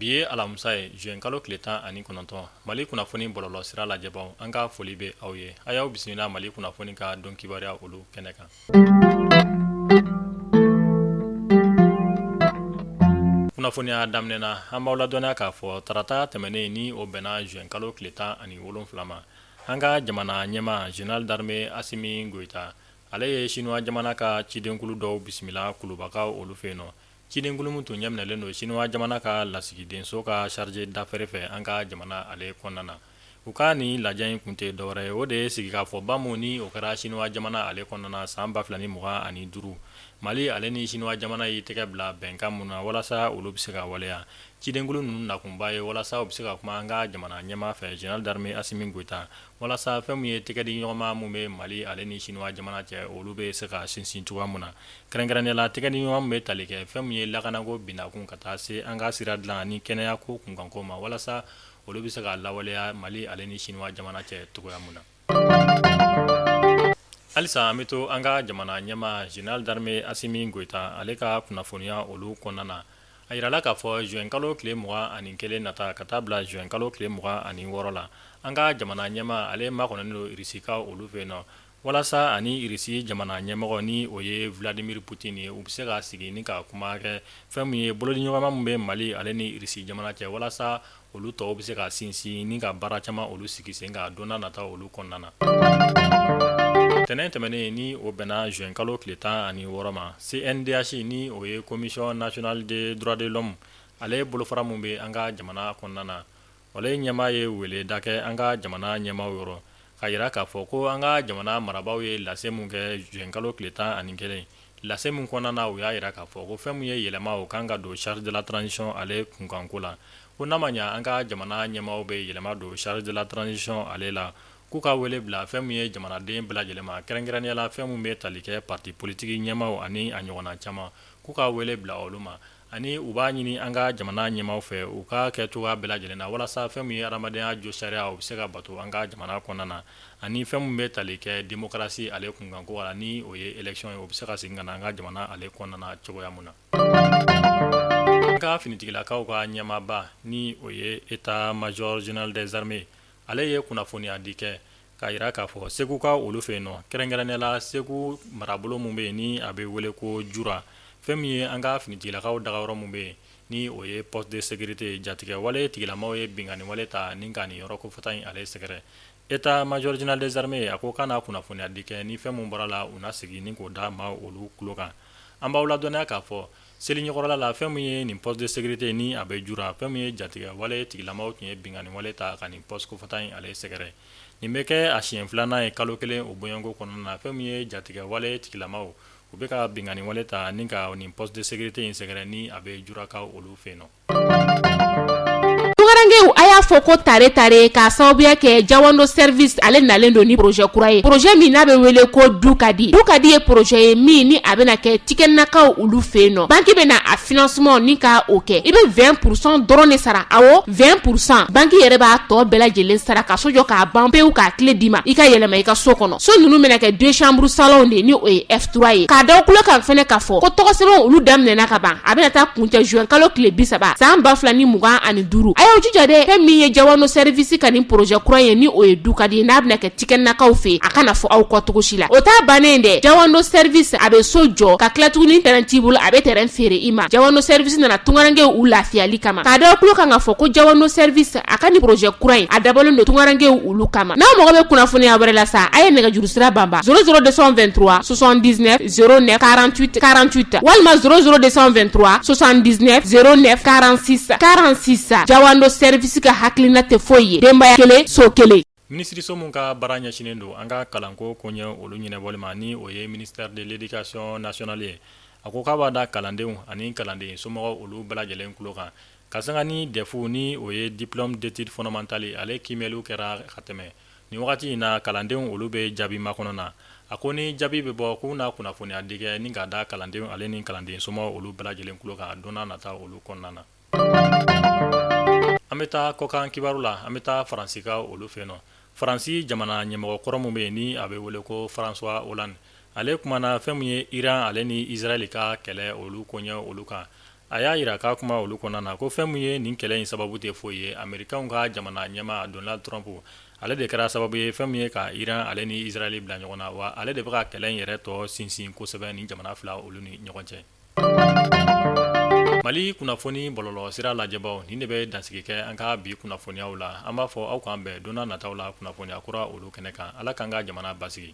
bi ye alamisa ye juin kalo tile tan ani kɔnɔntɔn mali kunnafoni bɔlɔlɔ sira lajɛbaw an ka foli bɛ aw ye a y'aw bisimila mali kunnafoni ka don kibaruya olu kɛnɛ kan kunnafoniya daminɛ na an b'aw ladɔnniya k'a fɔ tarata tɛmɛnen ni o bɛnna juin kalo tile tan ani wolonwula ma, an ka jamana ɲɛmaa Général d'armée Asimi Goyita, ale ye Chinois jamana ka cidenkulu dɔw bisimila Kulubakaw olu fɛ yen nɔ. Cidenkulu min tun ɲɛminɛlen don Chinois jamana ka lasigidenso ka chargé d'affaires fɛ an ka jamana ale kɔnɔna na. u ka nin lajɛ in kun tɛ dɔwɛrɛ ye o de ye sigikafɔba mun ni o kɛra sinuwa jamana ale kɔnɔna san 2020 ani duuru mali ale ni sinuwa jamana y'i tɛgɛ bila bɛnkan mun na walasa olu bɛ se ka waleya cidenkulu ninnu nakunba ye walasa u bɛ se ka kuma an ka jamana ɲɛmaa fɛ général d'armée asimi goita walasa fɛn min ye tɛgɛdiɲɔgɔnma mun bɛ mali ale ni sinuwa jamana cɛ olu bɛ se ka sinsin cogoya mun na kɛrɛnkɛrɛnnenya la tɛgɛdiɲɔgɔnma mun bɛ tali kɛ fɛn min ye lakanako binakun ka taa se an ka sira dilan ni kɛnɛya ko kunkanko ma walasa olu bɛ se ka lawaleya mali ale ni sinuwa jamana cɛ cogoya min na halisa an bɛ to an ka jamana ɲɛmaa général d'armée asimi goyita ale ka kunnafoniya olu kɔnɔna na a jirala k'a fɔ juin kalo tile mugan ani kelen nata ka taa bila juin kalo tile mugan ani wɔɔrɔ la an ka jamana ɲɛmaa ale makɔnɔnen don irisikaw olu fɛ yen nɔ Walasa ani irisi jamana ɲɛmɔgɔ ni o ye vladimir poutine ye u bɛ se ka sigi ni ka kuma kɛ fɛn min ye bolodiɲɔgɔnma min bɛ mali ale ni irisi jamana cɛ walasa olu tɔw bɛ se ka sinsin ni ka baara caman olu sigi sen kan don nataw olu kɔnɔna na tɛnɛn tɛmɛnen ni o bɛnna juin kalo tile tan ani wɔɔrɔ ma CNDH ni o ye commission nationale des droits de l'homme ale bolofara min bɛ an ka jamana kɔnɔna na ale ɲɛmaa ye weleda kɛ an ka jamana ɲɛmaaw yɔrɔ k'a jira k'a fɔ ko an ka jamana marabaaw ye lase min kɛ juin kalo tile tan ani kelen lase min kɔnɔna na u y'a jira k'a fɔ ko fɛn min ye yɛlɛma o kan ka don charte de la transition ale kunkanko la ko n'a ma ɲɛ an ka jamana ɲɛmaaw bɛ yɛlɛma don charte de la transition ale la k'u ka wele bila fɛn min ye jamanaden bɛɛ lajɛlen ma kɛrɛnkɛrɛnnenya la fɛn min bɛ tali kɛ parti politique ɲɛmaaw ani a ɲɔgɔnna caman k'u ka wele bila olu ma ani u b'a ɲini an ka jamana ɲɛmaw fɛ u k'a kɛ cogoya bɛɛ lajɛlen na walasa fɛn min ye adamadenya josariya o bɛ se ka bato an ka jamana kɔnɔna na ani fɛn min bɛ tali kɛ demokarasi ale kunkanko la ni o ye élection ye o bɛ se ka segin ka na an ka jamana ale kɔnɔna na cogoya min na an ka finitigilakaw ka ɲɛmaaba ni o ye état major général des armées ale ye kunnafoniya di kɛ k'a jira k'a fɔ segukaw olu fɛ yen nɔ kɛrɛnkɛrɛnnenya la segu marabolo min bɛ yen ni a bɛ wele ko jura fɛn min ye an ka finitigilakaw dagayɔrɔ min bɛ yen ni o ye poste de sécurité jatigɛ wale tigilamaw ye binkanni wale ta ni ka nin yɔrɔ kofɔta in ale sɛgɛrɛ état major général des armées ye a ko k'a na kunnafoniya di kɛ ni fɛn min bɔra la u na segin ni k'o da maa olu tulo kan an b'aw ladɔnniya k'a fɔ Seli ɲɛkɔrɔla la fɛn min ye nin poste de sécurité ni a bɛ jura fɛn min ye jatigɛ wale tigilamaw tun ye binkanni wale ta ka nin poste kofɔta in ale sɛgɛrɛ nin bɛ kɛ a siɲɛ filanan ye kalo kelen o bɔɲɔgɔnko kɔnɔna na fɛn min ye jatigɛ wale tigilamaw u bɛ ka binkanni wale ta ni ka nin poste de sécurité in sɛgɛrɛ ni a bɛ jurakaw olu fɛ yen nɔ Tunkarankew a y'a fɔ ko tare tare k'a sababuya kɛ jawando sɛrivisi ale nalen don ni porozɛ kura ye porozɛ min n'a bɛ wele ko du ka di du ka di ye porozɛ ye min ni a bɛna kɛ tikɛnakaw olu fɛ yen nɔ banki bɛna a financement ni ka o kɛ i bɛ vingt pour cent dɔrɔn de sara awɔ vingt pour cent banki yɛrɛ b'a tɔ bɛɛ lajɛlen sara ka so jɔ k'a ban pewu k'a kile d'i ma i ka yɛlɛma i ka so kɔnɔ so ninnu bɛna kɛ deux chambres salon de ye ni o ye F3 ye k'a da aw tulo kan fɛnɛ k'a fɔ ko tɔgɔsɛbɛnw olu daminɛna ka ban a bɛna taa kuncɛ juin kalo tile bi saba san ba fila ni mugan ani duuru a y'aw jija dɛ fɛn min ye jawando sɛrivisi ka nin porozɛ kura ye ni o ye du ka di n'a bɛna kɛ tikɛnakaw fɛ a kana fɔ aw kɔ cogo si la o t'a bannen ye dɛ jawando sɛrivisi a bɛ so jɔ ka tila tuguni tɛrɛn t'i bolo a bɛ tɛrɛn feere i ma jawando sɛrivisi nana tungarankew u lafiyali kama k'a da aw tulo kan k'a fɔ ko jawando sɛrivisi a ka nin porozɛ kura in a dabɔlen don tungarankew olu kama n'aw mago bɛ kunnafoniya wɛrɛ la sa a ye nɛgɛjuru sira banba zéro zéro deux cent vingt-trois soixante-dix-neuf zéro neuf quarante-huit quarante-huit walima zéro zéro deux cent vingt-trois soixante-dix-neuf zéro neuf quarante-six quarante-six jawando sɛrivisi ka hakilina tɛ foyi ye denbaya kelen so kelen minisiriso min ka baara ɲɛsinnen don an ka kalanko koɲɛ olu ɲɛnabɔli ma ni o ye ministère de l'éducation nationale ye a ko k'a b'a da kalandenw ani kalanden somɔgɔw olu bɛɛ lajɛlen tulo kan Ka sanga ni dɛfu ni o ye diplôme d'études fondamentales ale kiimɛliw kɛra ka tɛmɛ nin wagati in na kalandenw olu bɛ jaabi makɔnɔ na a ko ni jaabi bɛ bɔ k'u n'a kunnafoniya di kɛ ni k'a da kalandenw ale ni kalanden somɔgɔw olu bɛɛ lajɛlen tulo kan donna nata olu kɔnɔna na an bɛ taa kɔkan kibaru la an bɛ taa faransikaw olu fɛ yen nɔ faransi jamana ɲɛmɔgɔ kɔrɔ min bɛ yen ni a bɛ wele ko françois hollande ale kumana fɛn min ye iran ale ni izraeli ka kɛlɛ olu koɲɛ olu kan a y'a jira k'a kuma olu kɔnɔna na ko fɛn min ye nin kɛlɛ in sababu tɛ foyi ye amerikaw ka jamana ɲɛmaa donald trump ale de kɛra sababu ye fɛn min ye ka iran ale ni izraeli bila ɲɔgɔn na wa ale de bɛ ka kɛlɛ in yɛrɛ tɔ sinsin kosɛbɛ ni jamana fila olu ni ɲɔgɔn cɛ mali kunnafoni bɔlɔlɔ sira lajɛbaw nin de bɛ dansigi kɛ an ka bi kunnafoniyaw la an b'a fɔ aw k'an bɛn donna nataw la kunnafoniya kura olu kɛnɛ kan ala k'an ka jamana basigi